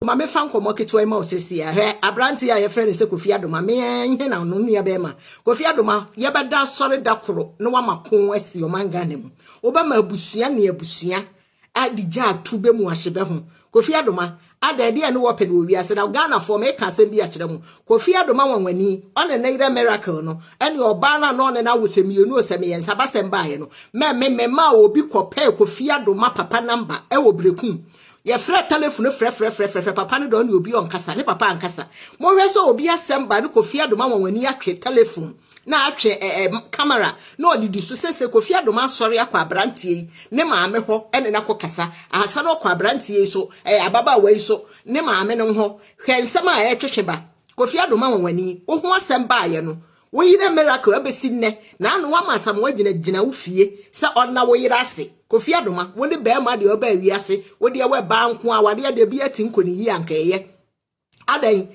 Ma mefa nkɔmmɔ ketewa yi ma wo sɛsiɛ. Hwɛ, aberante a yɛfrɛ no sɛ Kofi Adoma, me ara he na no nua bɛɛma. Kofi Adoma, yɛbɛda asɔre da koro na wama ko asi ɔman Ghana mu. Wobɛma abusua ne abusua ade gya ato bɛ mu ahye bɛ ho. Kofi Adoma, adɛn, deɛn ne wɔpɛ no wɔ wiase? Na Ghanafoɔ, meeka asɛm bi akyerɛ mo, Kofi Adoma nwanwani, ɔne ne yerɛ Miracle no, ɛne ɔbaa no a na ɔne no awo sɛ mmienu o, sɛ meyɛ nsabasɛm baeɛ no, mɛ me memaa obi kɔpɛɛ Kofi Adoma papa number wɔ Berekum. Yɛfrɛ telefon no frɛfrɛfrɛfrɛfrɛ, papa no dɛ ɔne obi ɔnkasa, ne papa ankasa. Mohwɛ sɛ obi asɛm ba no Kofi Adom ama wɔn ani atwe telefon na atwe eh, eh, kamera na ɔde di so. Sese Kofi Adom asɔre akɔ aberanteɛ yi ne maame hɔ ɛne no akɔkasa. Ahasa no ɔkɔ aberanteɛ yi so, eh, ababaawa yi so ne maame no hɔ. Hwɛ nsɛm a ɛretwetwe ba. Kofi Adom ama wɔn ani. Woho asɛm baayɛ no, Wo yere Miracle abesi nnɛ na ano wama Asamoah gyina gyina wo fie sɛ ɔnna wo yere ase. Kofi Adoma, wo ne barima deɛ ɔbaa wiase, wo deɛ wɛ baa nko a, wadeɛ deɛ bia ti nko ne yie anka ɛyɛ. Adɛn?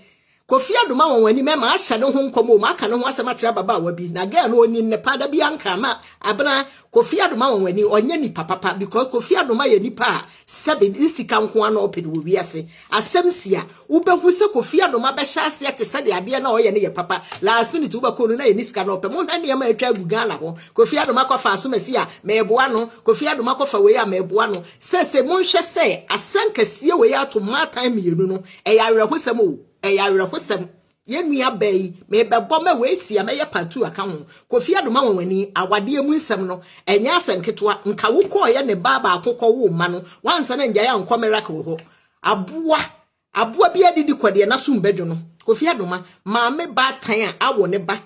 Kofi Adoma wɔn anim ɛma ahyɛ ne ho nkɔm o, maka ne ho asɛm akyerɛ ababaawa bi, na girl no ɔnim ne pa, da bia nka ma abena Kofi Adoma wɔn ani, ɔnyɛ nipa papa because Kofi Adoma yɛ nipa a, Sɛbe ne sika nko ara na ɔpɛ no wɔ wiase. Asɛm si a, wobɛhu sɛ Kofi Annom abɛhyɛ aseɛ te sɛdeɛ adeɛ no a ɔyɛ no yɛ papa. Last minute wobɛkɔ no na ɛni sika na ɔpɛ. Monhwɛ nneɛma a atwa agu Ghana hɔ. Kofi Annom akɔfa Asomasi a, mɛɛboa no. Kofi Annom akɔfa wei a, mɛɛboa no. Sɛsɛ monhwɛ sɛ asɛnkasie wei ato mmaatan mmienu no. Ɛyɛ awerɛhosɛm o. Ɛyɛ awerɛhosɛm. Yɛn nua baa yi, mebɛbɔ mɛ wei si a mɛyɛ part two aka ho. Kofi Adoma Nwanwani, awadeɛ mu nsɛm no, ɛnyɛ asɛm ketewa. Nka wo kɔɔyɛ ne baa baako kɔ woo mma no, woansan angyae ankɔ Merak wɔ hɔ. Aboa, aboa biara didi kɔ deɛ n'asom bɛdwo no. Kofi Adoma, maame baatan a awɔ ne ba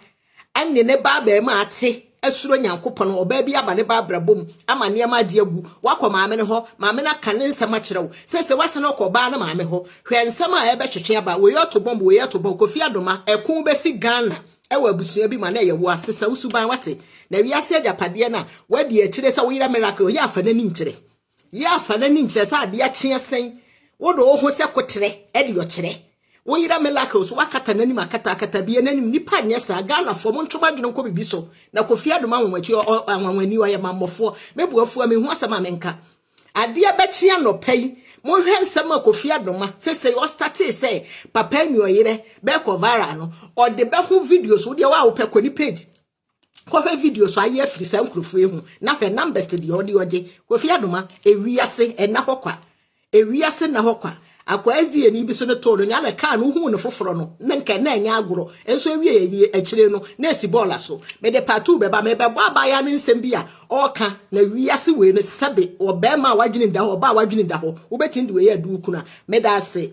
Ɛnne ne ba abarimaa te, asuro Nyankopɔn, ɔbaa bi aba ne ba abrabɔ mu, ama nneɛma agye agu, wakɔ maame no hɔ, maame no aka ne nsɛm akyerɛ wo, seesei wasan akɔ ɔbaa no maame hɔ. Hwɛ nsɛm a ɛrebɛtwetwe aba, wei ɔto bɔmb, wei ɔto bɔmb, Kofi Adoma, ɛko bɛsi Ghana wɔ abusua bi mu anaa ɛyɛ woa, sesa wo suban, wate, na wiase agyapadeɛ no a, woadi akyire sɛ wo yera Miracle, ɔyɛ afa n'ani nkyerɛ. Yɛ afa n'ani nkyerɛ sɛ adeɛ kyeɛ sɛn, wode wo ho sɛ koterɛ de ɔkyerɛ. Wo yera Miracle so wakata n'anim akata akata bie n'anim nnipa nyɛ saa Ghanafoɔ monto madwene nkɔ biribi so na Kofi Adom anwanwati anwanwani ɔyɛ mammɔfoɔ me bo afua mehu asɛm a menka adeɛ bɛkye anɔpa yi monhwɛ nsɛm a Kofi Adom a sesei ɔstatee sɛ papa nuɔyerɛ bɛkɔ viral no ɔde bɛho videos wo deɛ wo a wopɛ kɔ ne page Kɔhwɛ video so ayɛ afiri saa nkurɔfoɔ yi ho na hwɛ numbers deɛ ɔde ɔgye. Kofi Adoma, ewiase ɛna hɔ kwa. Ewiase na hɔ kwa. Akwaa SDA ni bi so ne too no nyɛ na kaa no wohuu no foforɔ no na nka na ɛnyɛ agorɔ nso ewie ayie akyire no na esi bɔɔla so. Mede part two bɛba mebɛbɔ abaayaa no nsɛm bi a ɔɔka na wiase wei no sɛbe ɔbɛɛma a wadwene da hɔ ɔbaa a wadwene da hɔ wobɛtumi de wei adu wo kunu a. Meda ase.